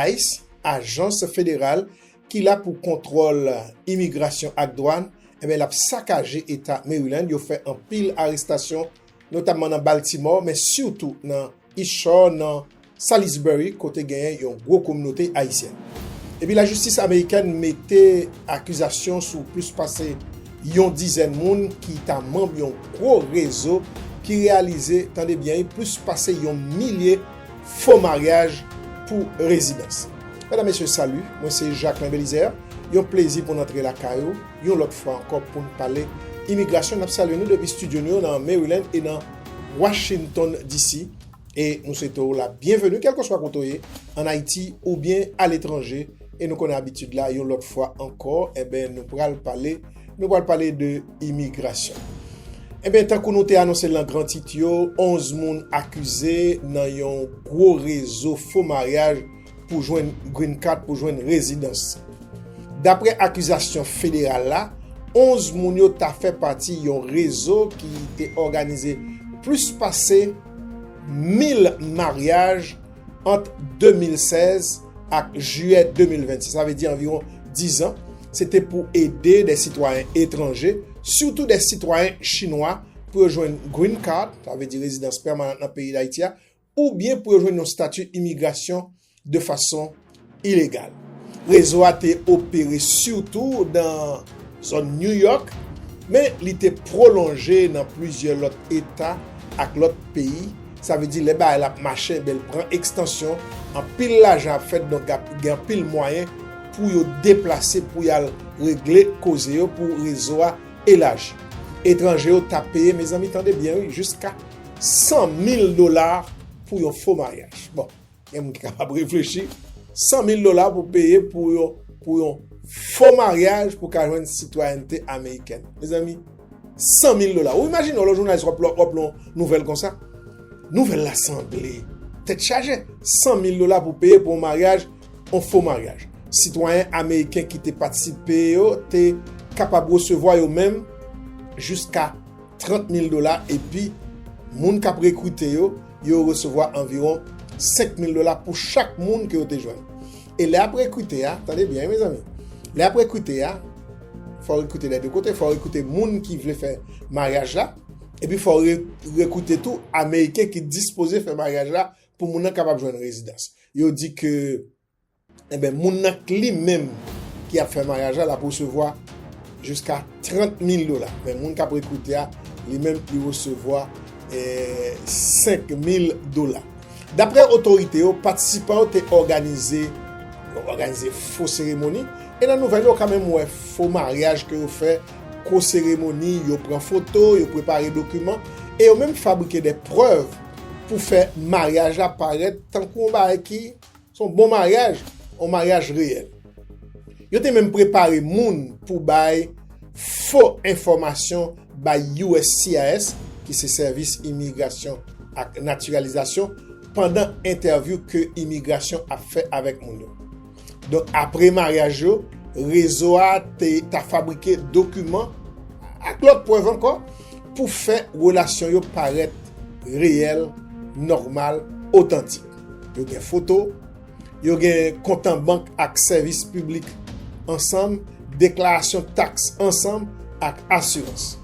Ice, ajans federal ki la pou kontwòl imigrasyon ak dwàn, enben l ap sakaje eta Maryland, yo fè anpil arestasyon notamman nan Baltimore men sitou nan East Shore nan Salisbury kote genyen yon gwo kominote Ayisyen. Epi lajistis amerikèn mete akizasyon sou plis pase yon dizèn moun ki ta manb yon gwo rezo ki reyalize, tande byen wi, plis pase yon milye Fo maryaj pou rezidans. Medam mesye salut, mwen se Jacquelin Belizaire, yon plezi pou n antre lakay ou yon lòt fwa ankò pou n pale imigrasyon, nap salye nou depi studio nou yo nan Maryland e nan Washington DC e nou swete w la byenveni kèlkeswa kote w ye an Ayiti oubyen aletranje e nou konnen abitid la yon lòt fwa ankò enben nou pral pale Nou pral pale de imigrasyon. Eben, tankou nou te anonse lan gran tit yo, 11 moun akize nan yon gwo rezo fo maryaj pou jwenn Green Card, pou jwenn rezidans. Dapre akizasyon federal la, 11 moun yo ta fè pati yon rezo ki te òganize plis pase 1000 maryaj, Ant 2016 ak jiyè 2026, sa vle di anviwon 10 an, se te pou ede de sitwayen etranje, sitou de sitwayen chinwa, pou yo jwenn Green Card, sa vle di rezidans pèmanant nan peyi Dayiti a, oubyen pou yo jwenn yon stati imigrasyon de fason ilegal. Rezo a te opere sitou nan zòn New York, men li te pwolonje nan plizyè lòt eta ak lòt peyi. Sa vle di lè bagay la ap mache enben l pran ekstansyon, anpil lajan ap fèt donk ap gen anpil mwayen pou yo deplase pou y al regle koze yo pou rezo a elaji. Etranje yo ta peye, mezanmi tande byen wi, jiska 100 mil dola pou yon fo maryaj. Bon. Gen moun ki kapab reflechi, 100 mil dola pou peye pou yon pou yon fo maryaj pou ka jwenn sitwayènte amerikèn. Mezanmi, 100 mil dola. Ou imajine yon lò jounalis wap lò wap lò nouvèl konsa? Nouvèl la sanble tèt chaje. 100 mil dola pou peye pou yon maryaj, yon fo maryaj. Sitwayèn amerikèn ki te patisipe yo te kapab resevwa yo menm jiska 30 mil dola epi moun k ap rekrite yo, yo resevwa anviwon 5 mil dola pou chak moun ke yo te jwenn. E lè y ap rekrite a, tande byen wi mezanmi, lè y ap rekrite a, fò w rekrite dè de kote, fò w rekrite moun ki vle fè maryaj la, epi fò w rekrite tou Ameriken ki dispoze fè maryaj la pou moun nan kapab jwenn rezidans. Yo di ke... Enben moun nan k li menm ki ap fè maryaj la l ap resevwa jiska 30 mil dola men moun k ap rekrite a li menm li resevwa 5 mil dola. Daprè otorite yo patisipan yo te òganize òganize fo seremoni e nan nouvèl yo ka menm wè fo maryaj ke yo fè kwo seremoni yo pran foto yo prepare dokiman e yo menm fabrike de prèv pou fè maryaj la parèt tankou yon bagay ki Se yon bon maryaj, yon maryaj reyèl. Yo te menm prepare moun pou bay fo enfòmasyon bay uscis, ki se Sèvis Imigrasyon ak Natiralizasyon, pandan entèvyou ke imigrasyon ap fè avèk moun yo. Donk apre maryaj yo, rezo a te ta fabrike dokiman ak lòt prèv ankò pou fè relasyon yo parèt reyèl, nòmal, otantik. Yo gen foto, yo gen kontan bank ak sèvis piblik ansanm, deklarasyon taks ansanm ak asirans.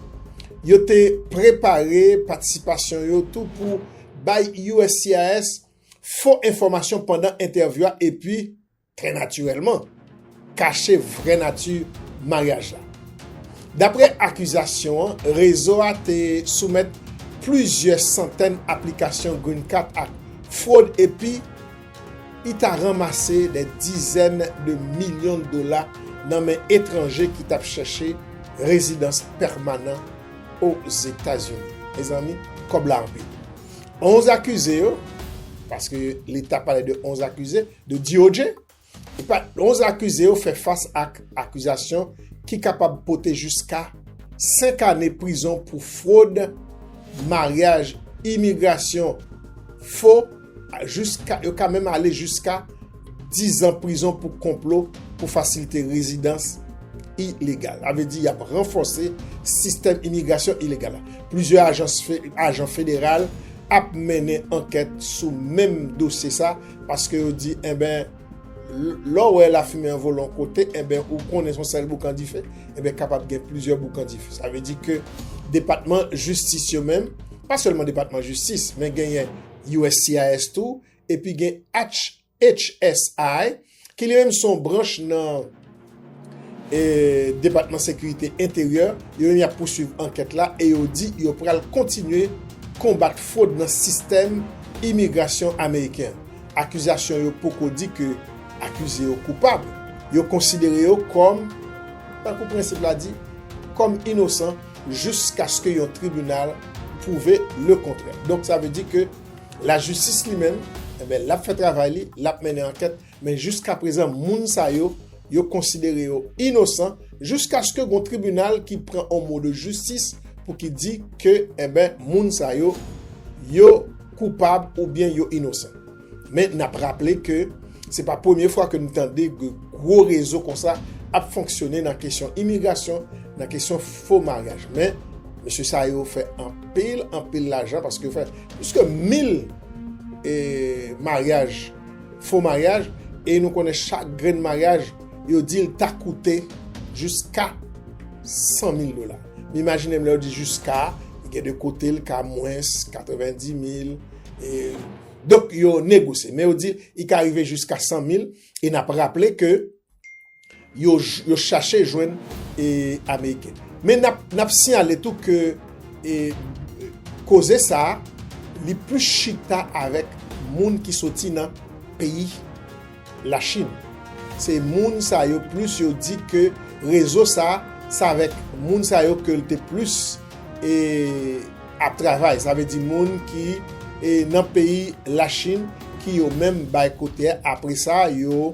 Yo te prepare patisipasyon yo tou pou bay uscis fo enfòmasyon pandan entèvyou a epi Trè natirèlman, kache vrè nati maryaj la. Daprè akizasyon an, rezo a te soumèt plizyè santèn aplikasyon Green Card ak fwod epi I ta ranmase dè dizèn de milyon dola nan men etranje ki t ap chèche rezidans pèmanan Ozetazini. Mezanmi, kòb la anpil. Onz akize yo, paske leta pale de onz akize, de DOJ, epa 11 akize yo fè fas ak akizasyon ki kapab pote jiska 5 ane prizon pou fwod, maryaj, imigrasyon fo, yo ka menm ale jiska 10 an prizon pou konplo pou fasilite rezidans ilegal. Avè di yap ranfose sistèm imigrasyon ilegal la. Plizyè ajan federal ap mennen ankèt sou menm dosye sa, Paske yo di enben lè w wè lafimen an vole yon kote enben ou konnen se yon sèl boukan dife enben kapab gen plizyè boukan dife. Sa vle di ke depatman jistis yo menm, pa sèlman depatman jistis men genyen uscis tou epi gen HHSI ki li menm se yon branch nan. Depatman Sekirite Enteryè yo menm yap pouswiv ankèt la e yo di yo pral kontinye konbat fwod nan sistèm imigrasyon ameriken an. Akizasyon yo poko di ke akize yo koupab, yo konsidere yo kòm, tankou prensip la di, kòm inosan jiskaske yon tribinal pwouve le kontrè. Donk sa vle di ke lajistis li menm, lap fè travay li, lap mennen ankèt. men jiska prezan moun sa yo, yo konsidere yo inosan jiskaske gon tribinal ki pran on mo de jistis pou ki di ke enben moun sa yo, yo koupab ou byen yo inosan. Men n ap raple ke se pa premye fwa ke n tande ke gwo rezo konsa ap fonksyone nan kesyon imigrasyon, nan kesyon fo maryaj. Men, mesye sa yo fè anpil, anpil lajan paske yo fè pliske mil maryaj. fo maryaj e nou konnen chak grenn maryaj yo di l ta koute jiska 100 mil dola. M imajine m lè yo di jiska, gen de kote l ka mwens 90 mil. Donk yo negosye. Men yo di l ka rive jiska 100 mil e n ap raple ke. yo chache jwenn Ameriken. Men n ap siyale tou ke koze sa a li plis chita avèk moun ki soti nan peyi Lachin. Se moun sa yo plis yo di ke rezo sa a, se avèk moun sa yo ke l te plis ap travay. Sa vle di moun ki nan peyi Lachin ki yo menm bay kote a apre sa yo.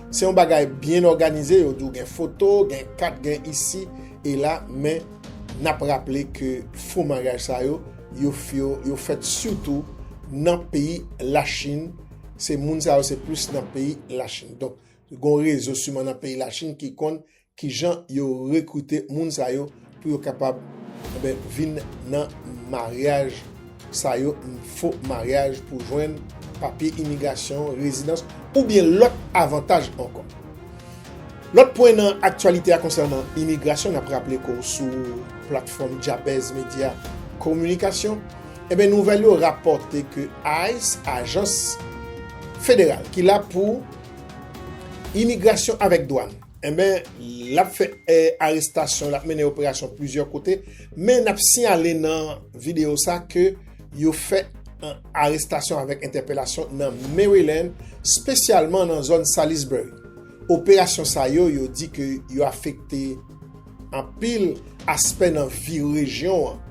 Se yon bagay byen òganize, yo di w gen foto, gen kat, gen isi e la men n ap raple ke fo maryaj sa yo, yo fèt sitou nan peyi Lachin, se moun sa yo se plis nan peyi Lachin. Donk, gen yon rezo siman nan peyi Lachin ki konn Ki jan yo rekrite moun sa yo pou yo kapab vin nan maryaj sa yo, fo maryaj pou jwenn papye imigrasyon, rezidans oubyen lòt avantaj ankò. Lòt pwen nan aktyalite a konsènan imigrasyon, nap raple ke w sou platfòm Jabez Media Kominikasyon, enben nouvèl yo rapòte ke ice, ajans federal ki la pou imigrasyon avèk dwàn, Enben, l ap fè arestasyon, l ap mennen operasyon plizyè kote, men n ap siyale nan videyo sa ke yo fè arestasyon avèk entèpelasyon nan Maryland, spesyalman nan zòn Salisbury. Operasyon sa yo, yo di ke yo afekte. Anpil aspè nan vi rejyon an,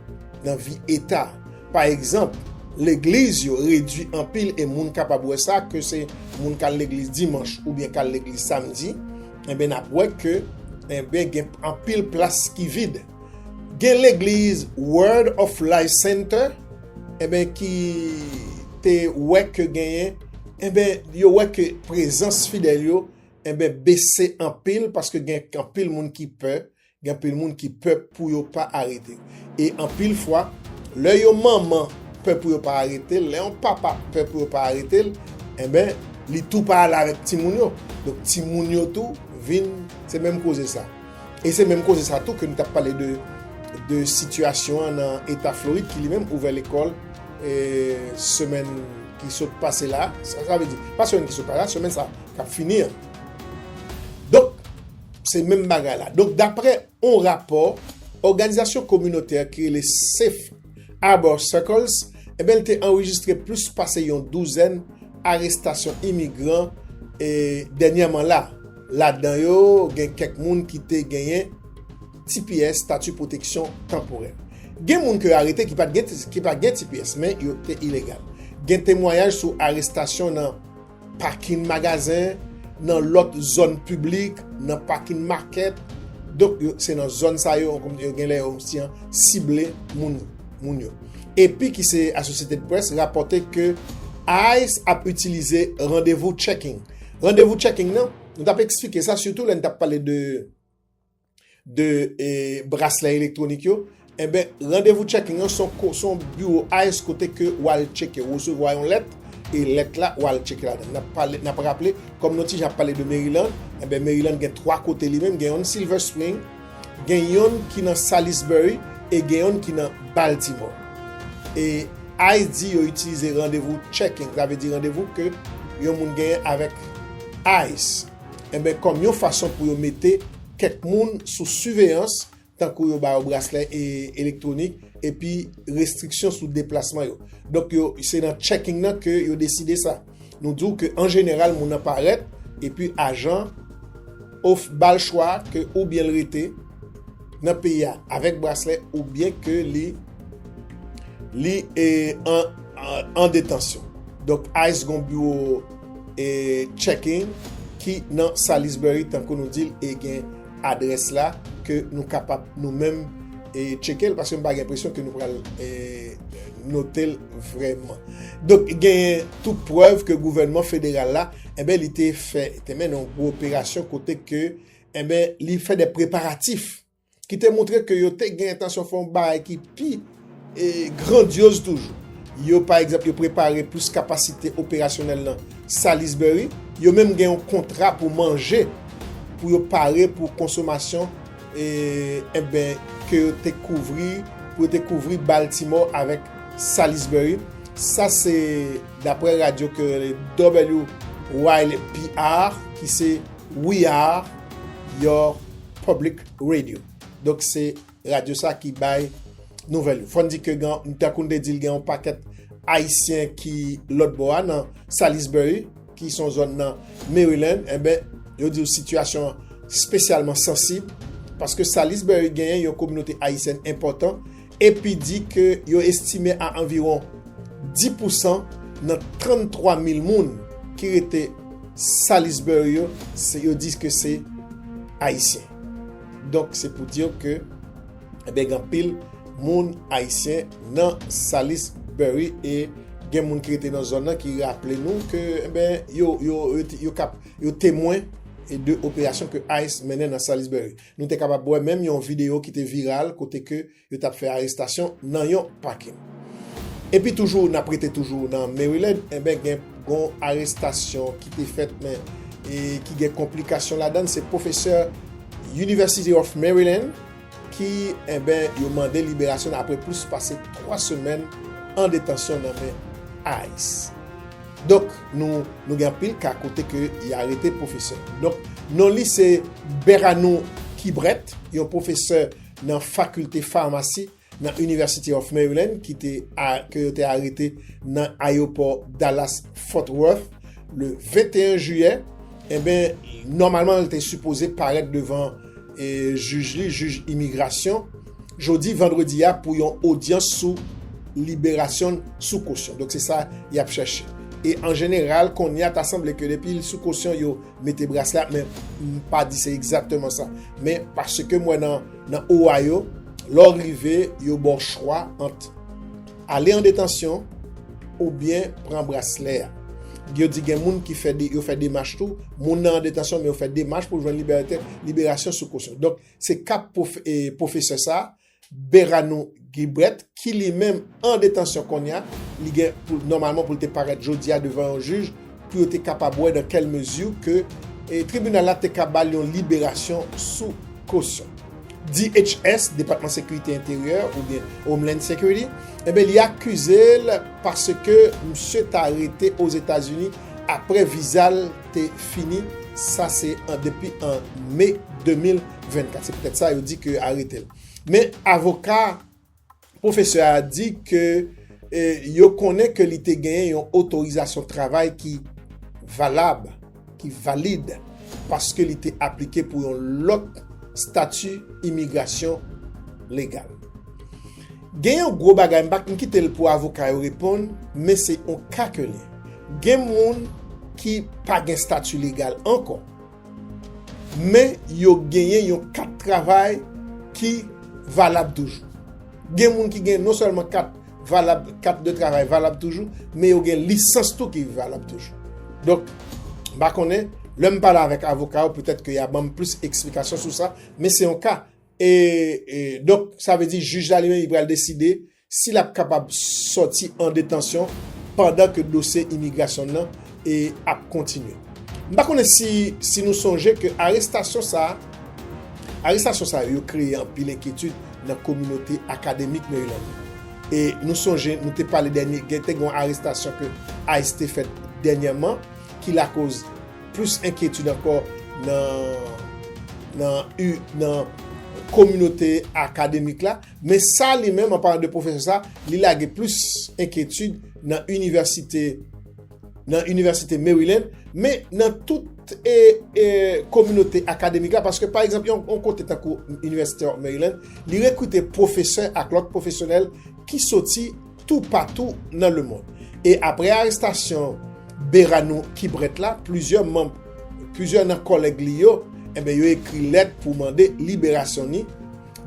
nan vi eta. Pa egzanp, legliz yo redwi anpil e moun kapab wè sa ke se moun kal legliz dimanch oubyen kal legliz samdi, enben nap wè ke enben gen anpil plas ki vid. Gen legliz Word of Life Center enben ki te wè ke genyen enben yo wè ke prezans fidèl yo Enben bese anpil paske gen anpil moun ki pè, gen anpil moun ki pè pou yo pa arete. E anpil fwa, lè yon manman pè pou yo pa arete l, lè yon papa pè pou yo pa arete l, enben li tou pa ale avèk timoun yo. Donk timoun yo tou vin, se menm koze sa. E se menm koze sa tou ke nou t ap pale de sitiyasyon an nan Eta Florid ki li menm ouvè lekòl semèn ki sot pase la, sa vle di pa semèn ki sot pase la, semèn sa. k ap fini an. Donk, se menm bagay la. Donk, dapre yon rapò òganizasyon kominotè ki rele Safe Harbor Circles, enben l te anrejistre plis pase yon douzèn arestasyon imigran dènyèman la. Ladan yo, gen kèk moun ki te genyen tps, Stati Pwoteksyon Tanporè. Gen moun ke yo arete ki pa t gen tps, men yo te ilegal. Gen temwayaj sou arestasyon nan. Pakin magazen, nan lòt zòn piblik, nan pakin makèt. Donk, se nan zòn sa yo, gen lè yo si an sible moun yo. Epi ki se Associated Press rapòte ke ice ap itilize randevou checking. Randevou checking nan, nou tap eksplike sa sitou lè nou tap pale de... de braslè elektwonik yo, enben randevou checking an son biwo ice kote ke ou al cheke, ou resevwa yon lèt, e lèt la ou al cheke ladan. N ap raple, kòm nou ti jan ap pale de Maryland, enben Maryland gen 3 kote li menm, gen yon Silver Spring, gen yon ki nan Salisbury, e gen yon ki nan Baltimore. E ice di yo itilize randevou checking, sa vle di randevou ke yon moun genyen avèk ice. enben kòm yon fason pou yo mete kèk moun sou siveyans tankou yo ba yo braslè elektwonik epi restriksyon sou deplasman yo donk yo se nan checking nan ke yo deside sa nou di w ke an jeneral moun nan parèt epi ajan of bal chwa ke oubyen l rete. nan peyi a avèk braslè ou byen ke li li e an detansyon. Donk ICE gon biwo e checking ki nan Salisbury tankou nou dil e gen adrès la ke nou kapab nou menm e chekel paske m pa gen presyon ke nou pral e notel vreman. Donk gen tou prèv ke gouvènman federal la e ben li te fè te mennen yon gwo operasyon kote ke Enben, li fè de preparatif ki te montre ke yo te gen entansyon fè yon bagay ki pi grandyoz toujou. Yo, pa egzanp, yo prepare plis kapasite operasyonèl nan Salisbury. Yo menm gen yon kontra pou manje pou yo pare pou konsomasyon enben ke yo te kouvri, pou yo te kouvri Baltimore avèk Salisbury. Sa se dapre radyo ke WYPR ki se. We are your public radio. Donk se radyo sa ki bay nouvèl yo. Fò n di ke gen, tankou n te di l gen yon pakèt Ayisyen ki lòt bò a nan Salisbury, ki son zòn nan Maryland, enben yo di yo sitiyasyon an spesyalman sansib, paske Salisbury genyen yon kominote Ayisyèn enpòtan, epi di ke yo estime a anviwon 10 pousan nan 33 mil moun ki rete Salisbury yo, yo di ke se Ayisyen. Donk se pou dir ke ebyen gen anpil moun Ayisyen nan Salisbury e gen moun ki rete nan zòn nan ki raple nou ke ebyen yo yo yo kap yo temwen de operasyon ke ice mennen nan Salisbury. Nou te kapab wè menm yon videyo ki te viral kote ke yo tap fè arestasyon nan yon pakin. Epi toujou nap rete toujou nan Maryland enben gen yon arestasyon ki te fèt men ki gen konplikasyon ladann se pwofesè University of Maryland ki enben yo mande liberasyon apre plis pase 3 semèn an detansyon nan men ice. Donk nou nou gen anpil ka kote ke y arete pwofesè. Donk non li se Beranou Kibret, yon pwofesè nan fakilte famasi nan University of Maryland ki te ke yo te arete nan ayewopò Dallas Fort Worth le 21 jiyè. Enben nòmalman li te sipoze parèt devan e jij li, jij imigrasyon, jodi vandredi a pou yon odyans sou liberasyon l sou kosyon. Donk se sa y ap chèche. E an jeneral, kounye a ta sanble ke depi l sou kosyon yo mete braslè a, men m pa di se egzakteman sa. Men paske m wè nan Ohio, lè w rive yo ba w chwa ant. Ale an detansyon oubyen pran braslè a. Yo di gen moun ki fè demach tou, moun nan an detansyon men yo fè demach pou jwenn liberasyon sou kosyon. Donk, se ka pwofesè sa, Beranou Guibret, ki li menm an detansyon kounye a, li gen pou, nòmalman pou li te parèt jodi a devan yon jij, pou yo te kapab wè dan kèl mezi ke tribinal la te ka ba l yon liberasyon sou kosyon. DHS, Depatman Sekirite Enteryè oubyen Homeland Security, enben li akize l paske misye ta rete Ozetazini apre viza l te fini, sa se depi an Me 2024. Se poutèt sa yo di ke yo arete l. Men avoka Pwofesè a di ke yo konnen ke li te genyen yon otorizasyon travay ki valab, ki valid, paske li te aplike pou yon lòt stati imigrasyon legal. Gen yon gwo bagay, m pa k, m kite l pou avoka yo reponn, men se yon ka ke li. Gen moun ki pa gen stati legal ankò, Men yo genyen yon kat travay ki valab toujou. Gen moun ki gen non sèlman kat valab, kat de travay valab toujou, men yo gen lisans tou ki valab toujou. Donk, m pa konnen, lè m pale avèk avoka yo, petèt ke y a ban m plis eksplikasyon sou sa, men se yon ka. E, donk, sa vle di jij la li menm li pral deside. si l ap kapab sòti an detansyon pandan ke dosye imigrasyon n nan ap kontinye. M pa konnen si nou sonje ke arestasyon sa a, arestasyon sa yo yo kreye anpil enkyetid nan kominote akademik Maryland nan. E nou sonje nou te pale dènye, gen te gen yon arestasyon ke ice te fèt dènyèman ki lakoz plis enkyetid ankò nan kominote akademik la. Men sa li menm, an palan de pwofesè sa, li lage plis enkyetid nan inivèsite, nan inivèsite Maryland, men nan tout e, e, kominote akademik la, paske pa egzanp, yon kote tankou inivèsite Maryland, li rekrite pwofesè ak lòt pwofesyonèl ki soti tou patou nan lemond. E apre arestasyon Beranou Kibret la, plizyè manm, plizyè nan kòlèg li yo, enben yo ekri lèt pou mande liberasyon ni,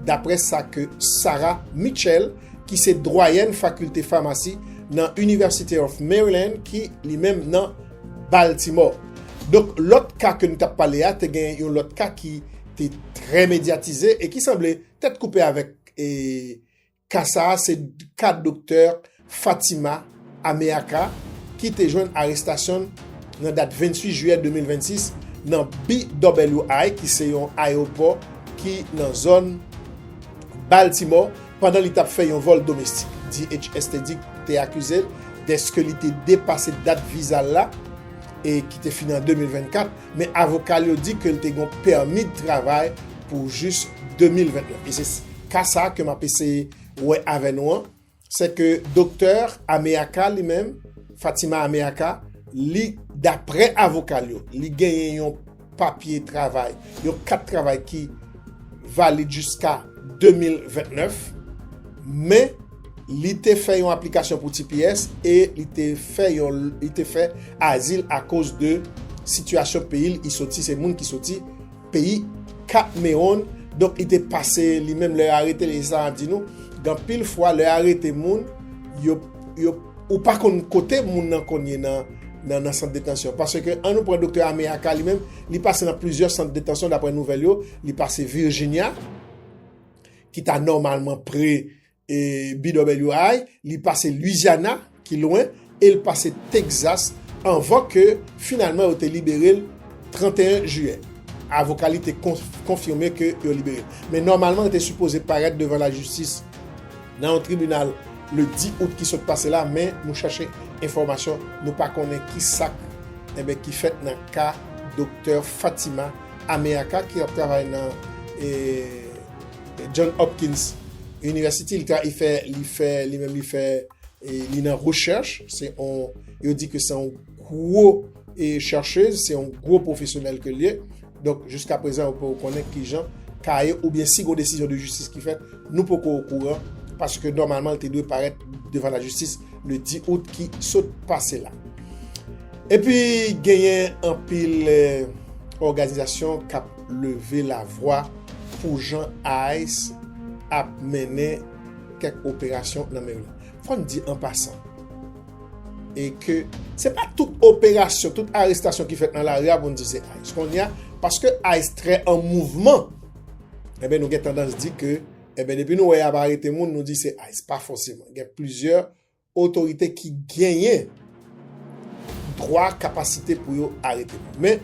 dapre sa ke Sarah Mitchell, ki se dwayèn fakilte famasi nan University of Maryland ki li menm nan Baltimore. Donk lòt ka ke nou t ap pale a, te gen yon lòt ka ki te trè medyatize e ki sanble tèt koupe avèk e Ka sa a se ka doktè Fatima Ameaka ki te jwenn arestasyon l nan dat 28 jiyè 2026 nan BWI ki se yon ayewopò ki nan zòn Baltimore pandan li t ap fè yon vòl domestik. DHS te di te akize l deske li te depase dat viza l la ki te fini an 2024. men avoka l yo di ke l te gen yon pèmi de travay pou jis 2021. E se ka sa ke m ap eseye wè avè nou an, se ke doktè Ameyaca li menm, Fatima Ameyaca, li daprè avoka l yo, li genyen yon papye travay, yon kat travay ki valid jiska 2029, men, Li te fè yon aplikasyon pou tps e li te fè yon li te fè azil akoz de sitiyasyon peyi l i soti se moun ki soti peyi Katmewoun donk li te pase li menm lè yo arete l e sa map di nou gen anpil fwa lè yo arete moun yo yo ou pa konn kote moun nan konn ye nan nan sant detansyon paske an nou pran doktè Ame Aka li menm li pase nan plizyè sant detansyon daprè nouvèl yo li pase Virginia ki ta nòmalman pre BWI, li pase Louisiana ki lwen, e l pase Texas anvan ke finalman yo te libere l 31 jiyè. Avoka li te konfime ke yo libere l. Men nòmalman l te sipoze parèt devan lajistis nan yon tribinal le 10 out ki sot pase la, men nou chache enfòmasyon, nou pa konnen ki sak enben ki fèt nan ka Doktè Fatima Ameaka ki ap travay nan. John Hopkins University li ka fè li fè li menm li fè li nan recherche se on yo di ke se on gwo e chercheuse se on gwo profesyonèl ke liye donk jiska prezan yo poko konnen kijan kaye ou byen si gon desizyon de jistis ki fèt nou poko o kouran paske nòmalman li te dwe parèt devan la jistis le 10 out ki sot pase la epi genyen anpil organizasyon kap leve lavwa pou jan ice ap mennen kèk operasyon nan Maryland. Fò n di an pasan, e ke se pa tout operasyon, tout arestasyon ki fèt nan lari a pou n di se ice. Kounye a, paske ice trè an mouvman, enben nou gen tandans di ke, enben depi nou wè y ap arete moun, nou di se ice. Pa fòseman. Gen plizyè otorite ki genyen dwa, kapasite pou yo arete moun. Men,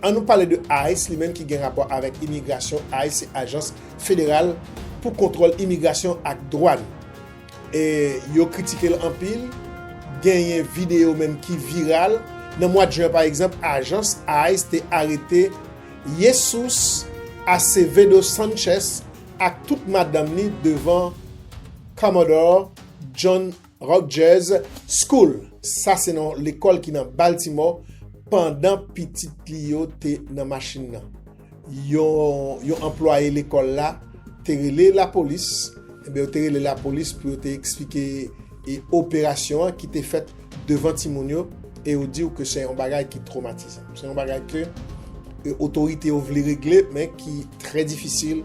an nou pale de ice li menm ki gen rapò avèk imigrasyon, ice se ajans federal pou kontwòl imigrasyon ak dwàn. E yo kritike l anpil, genyen videyo menm ki viral. Nan mwad jen pa egzanp, ajans ice te arete Jesús Acevedo Sánchez ak tout madanm li devan Comodoro. John Rutgers School, sa se non lekòl ki nan Baltimore, pandan pitit li yo te nan machin nan. Yon anplwaye lekòl la te rele lapolis, yo te rele lapolis pou yo te eksplike operasyon an ki te fèt devan timoun yo e yo di ou ke se yon bagay ki twomatizan. Se yon bagay ke otorite yo vle regle men ki trè difisil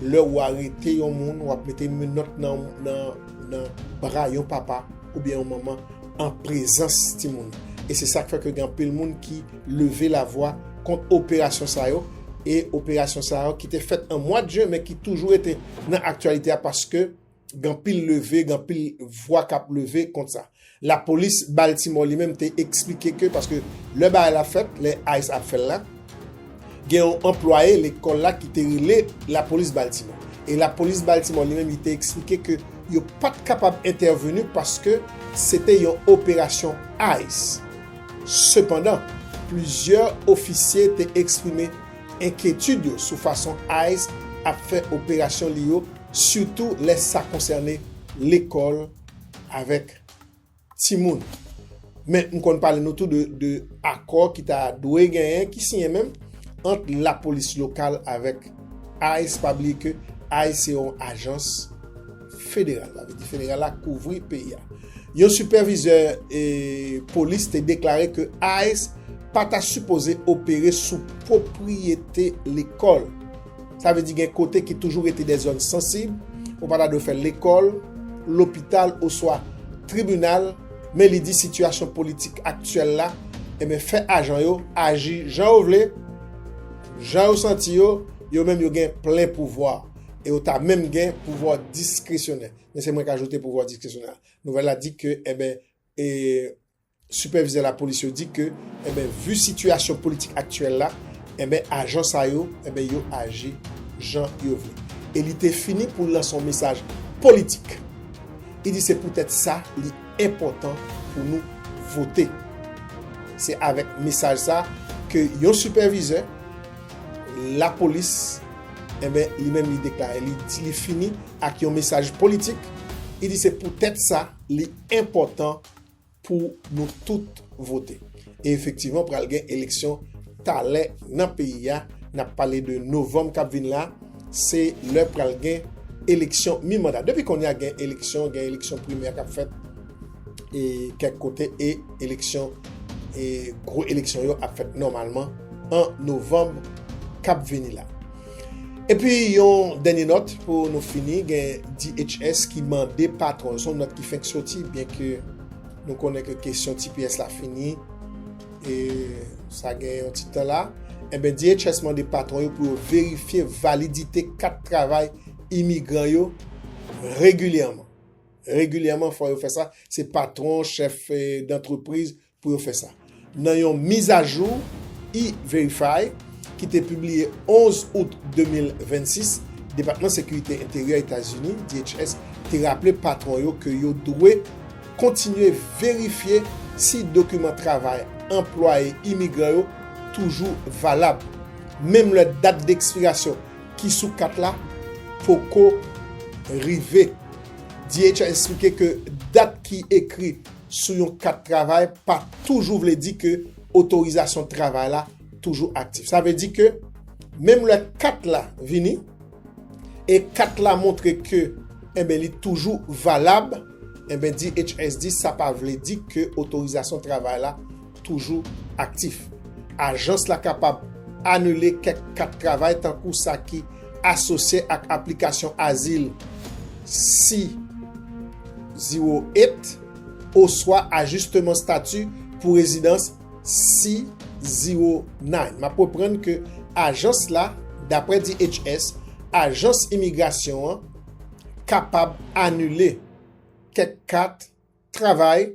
lè ou arete yon moun, wap mete yon menòt nan bra yon papa oubyen yon manman an prezans timoun nan. E se sak fè ke gen anpil moun ki leve la vwa kont operasyon sa yo e operasyon sa yo ki te fèt an mwad jen men ki toujou rete nan aktyalite a paske gen pil leve, gen pil vwa k ap leve kont sa. Lapolis Baltimore li menm te eksplike ke paske lè bagay la fèt, lè ice ap fè l la, gen yon anplwaye lekòl la ki te rele lapolis Baltimore. E lapolis Baltimore li menm li te eksplike ke yo pa t kapab entèveni paske se te yon operasyon ice. Sepandan, plizyè ofisye te eksprime enkyetid yo sou fason ice ap fè operasyon li yo sitou lè sa konsène lekòl avèk timoun. Men, m konn pale nou tou de akò ki ta dwe genyen, ki siyen menm, ant lapolis lokal avèk ice, pa bliye ke ice se yon ajans federal, sa vle di federal la kouvri peyi a. Yon sipèvizè polis te deklare ke ice pa ta sipoze opere sou pwopriyete lekòl. Sa vle di gen kote ki toujou rete de zòn sansib, ou pa ta dwe fè lekòl, lopital oswa tribinal, men li di sitiyasyon politik aktyèl la enben fè ajan yo aji jan yo vle, jan yo santi yo, yo menm yo gen plen pouvwa e yo ta menm gen pouvwa diskresyonè. Men se mwen k ajoute pouvwa diskresyonè a. Nouvèl la di ke enben e. Sipèvizè lapolis yo di ke enben vu sitiyasyon politik aktyèl la enben ajan sa yo enben yo aji jan yo vle e li te fini pou lanse yon mesaj politik li di se poutèt sa li enpòtan pou nou vote se avèk mesaj sa ke yon sipèvizè lapolis enben li menm li deklare li di li fini ak yon mesaj politik li di se poutèt sa li enpòtan pou nou tout vote e efektivman pral gen eleksyon talè nan peyi a nap pale de novanm kap vin la se lè pral gen eleksyon mi manda depi konya gen eleksyon gen eleksyon primè kap fèt e kèk kote e eleksyon e gwo eleksyon yo ap fèt nòmalman an novanm kap vini la. Epi yon dènye nòt pou nou fini, gen DHS ki mande patwon, son nòt ki fenk soti byen ke nou konnen ke kesyon tps la fini e sa gen yon ti tan la, enben DHS mande patwon yo pou yo verifye validite kat travay imigran yo regilyèman. Regilyèman fò yo fè sa, se patwon, chèf dantrepriz, pou yo fè sa. Nan yon mizajou E-Verify ki te pibliye 11 out 2026, Depatman Sekirite Enteryè Etazini, DHS, te raple patwon yo ke yo dwe kontinye verifye si dokiman travay anplwaye imigran yo toujou valab, menm lè dat dekspirasyon ki sou kat la poko rive. DHS esplike ke dat ki ekri sou yon kat travay pa toujou vle di ke otorizasyon travay la toujou aktif. Sa vle di ke menm lè kat la vini, e kat la montre ke enben li toujou valab, enben DHS di sa pa vle di ke otorizasyon travay la toujou aktif. Ajans la kapab anile kèk kat travay tankou sa ki asosye ak aplikasyon azil C-08 oswa ajisteman stati pou rezidans C-09. M ap reprann ke ajans la, dapre DHS, ajans imigrasyon an kapab anile kèk kat travay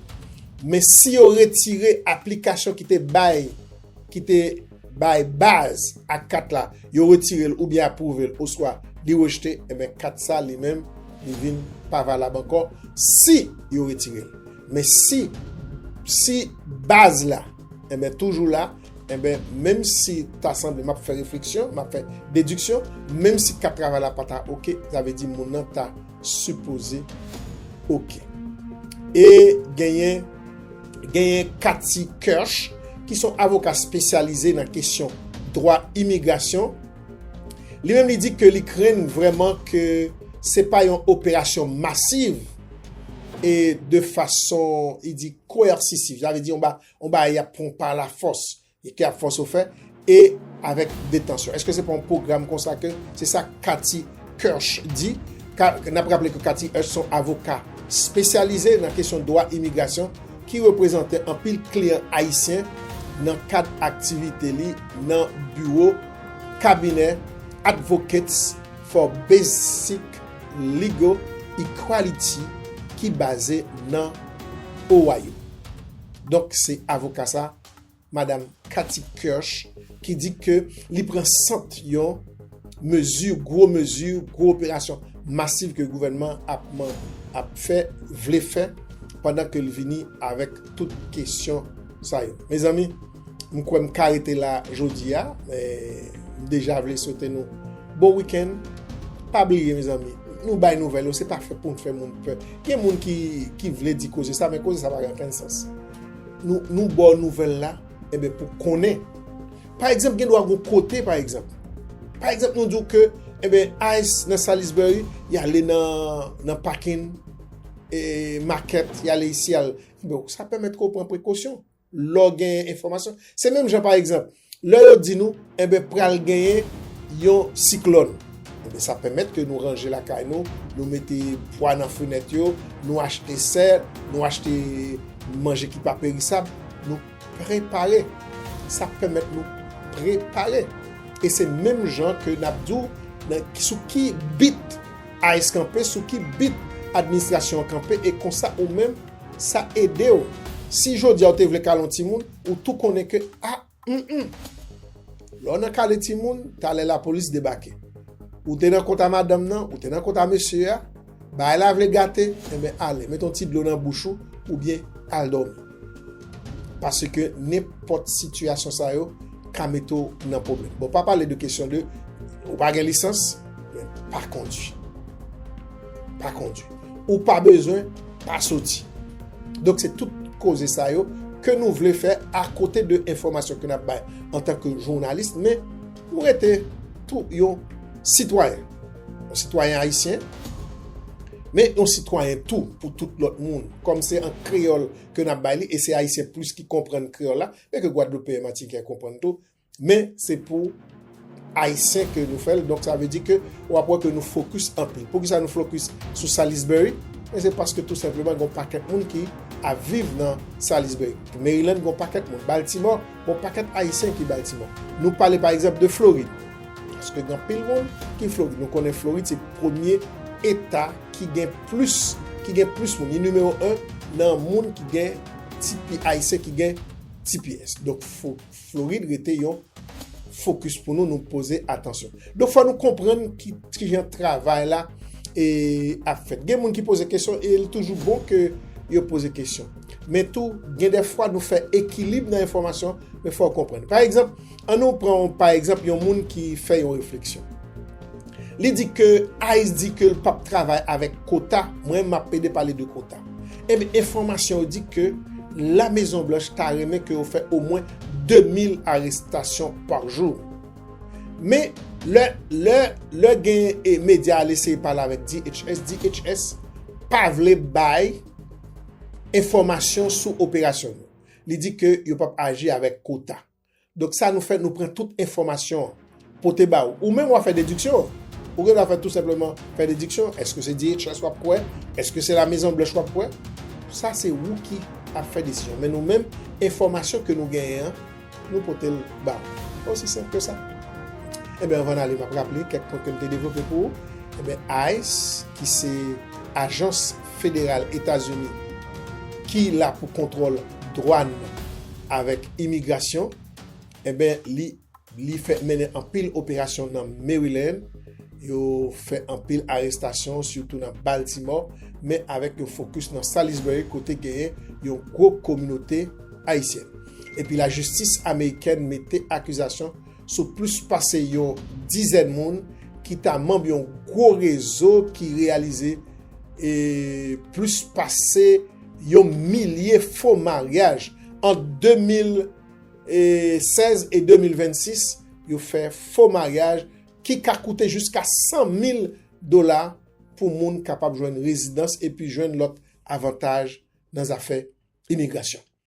Men si yo retire aplikasyon ki te bay ki te bay baz ak kat la, yo retire l oubyen apwouve l oswa li rejte, enben kat sa li menm li vin pa valab ankò si yo retire l. Men si si baz la enben toujou la, enben menm si ta sanble m ap fè refleksyon, m ap fè dediksyon, menm si kat travay la pa ta ok, sa vle di moun nan ta sipoze ok. E genyen genyen Kathy Kirsch ki son avoka spesyalize nan kesyon dwa imigrasyon. Li menm li di ke li krenn vreman ke se pa yon operasyon masiv e de fason li di koersisiv. Sa vle di yon bagay yap pran pa la fos. E ki ap fòse w fè, e avèk detansyon. Eske se pa yon pwogram konsa ke, se sa Kathy Kirsch di, n ap raple ke Kathy Hirsch se yon avoka spesyalize nan kesyon dwa imigrasyon ki reprezante anpil kliyan ayisyen nan kad aktivite li nan biwo kabinè Advocates for Basic Legal Equality ki baze nan Ohio. Donk se avoka sa. Madam Kathy Kirsch ki di ke li pran sant yon mezi, gwo mezi, gwo operasyon masiv ke gouvènman ap fè, vle fè, pandan ke li vini avèk tout kesyon sa yo. Mezanmi, m kwè m ka rete la jodi a, m deja vle swete nou bon wikenn, pa bliye mezanmi, nou bay nouvèl yo, se pa fè pou n fè moun pè. Gen moun ki vle di koze sa, men koze sa pa gen okenn sans. Nou baw nouvèl la enben pou konnen. Pa egzanp gen dwa gon kote pa egzanp. Pa egzanp nou diw ke enben ice nan Salisbury yale nan pakin e makèt yale isi yale. Sa pèmèt ke ou pran prekosyon lè ou gen enfòmasyon. Se menm jan pa egzanp. Lè yo di nou, enben pral genyen yon siklòn, enben sa pèmèt ke nou ranje lakay nou, nou mete pwa nan fenèt yo, nou achte sè, nou achte manje ki pa perisab, nou prepare. Sa pèmèt nou prepare. E se menm jan ke n ap di w sou ki bit ice kanpe, sou ki bit administrasyon an kanpe, e konsa ou menm sa ede w. Si jodi a ou te vle kale yon timoun, Ou tou konnen ke a humm. Lè w nan kale timoun, talè lapolis debake. Ou te nan kont a madanm nan, ou te nan kont a mesye a, bagay la vle gate, enben ale, met yon ti dlo nan bouch ou, oubyen al dòmi. Paske nenpòt sitiyasyon sa yo ka mete w nan pwoblèm. Bon, pa pale de kesyon de ou pa gen lisans, men pa kondwi. pa kondi. Ou pa bezwen pa soti. Donk se tout koze sa yo ke nou vle fè a kote de enfòmasyon ke nap bay an tan ke jounalis men nou rete tou yon sitwayen. Yon sitwayen ayisyen men yon sitwayen tou pou tout lòt moun. Kòm se an kreyòl ke nap bay li e se ayisyen plis ki konprann kreyòl la men ke gwadloupeyen, matiken konprann tou. Men se pou Ayisyen ke nou fèl, donk sa vle di ke w ap wè ke nou fokis anpil. Poukisa nou fokis sou Salisbury? Men se paske tou senpleman gen yon pakèt moun ki ap viv nan Salisbury. Maryland gen yon pakèt moun. Baltimore gen yon pakèt Ayisyen ki Baltimore. Nou pale pa egzanp de Florid, paske gen anpil moun ki Florid. Nou konnen Florid se premye eta ki gen plis, ki gen plis moun. Li nimewo 1 nan moun ki gen tps, Ayisyen ki gen tps. Donk. Florid rete yon focus pou nou, nou poze atansyon. Donk fò nou konprann ki jan travay la ap fèt. Gen moun ki poze kesyon e li toujou bon ke yo poze kesyon. Men tou gen de fwa nou fè ekilib nan enfòmasyon men fò ou konprann. Pa egzanp, an nou pran pa egzanp yon moun ki fè yon refleksyon. Li di ke ice di ke l pap travay avèk kota, mwen m ap pede pale de kota. Ebyen enfòmasyon yo di ke La Mezon Blanch ta renmen ke yo fè omwen 2000 arestasyon pa jou. Men, lè, lè, lè gen e medya al eseye pale avèk DHS, DHS pa vle bay enfòmasyon sou operasyon yo. Li di ke yo pap aji avèk kota. Donk sa nou fè nou pran tout enfòmasyon an pote ba ou. Ou menm wap fè dediksyon an. Ou gen dwa fè tou senpleman fè dediksyon. Eske se DHS wap kwè? Eske se la mezon blanch wap kwè? Sa se ou ki ap fè desizyon. Men nou menm enfòmasyon ke nou genyen an nou pote l ba ou. Osi senp ke sa. Enben anvan n ale map raple kèk pwen ke m te devlope pou ou. Enben ice ki se ajans federal Etazini ki la pou kontwòl. dwàn avèk imigrasyon enben li li fè mennen anpil operasyon nan Maryland yo fè anpil arestasyon sitou nan Baltimore men avèk yon fokis nan Salisbury kote genyen yon gwo kominote ayisyèn epi lajistis amerikèn mete akizasyon sou plis pase yon dizèn moun ki ta manb yon gwo rezo ki reyalize plis pase Yon milye fo maryaj ant 2016 e 2026 yo fè fo maryaj ki ka koute jiska 100 mil dola pou moun kapab jwenn rezidans epi jwenn lòt avantaj nan zafè imigrasyon.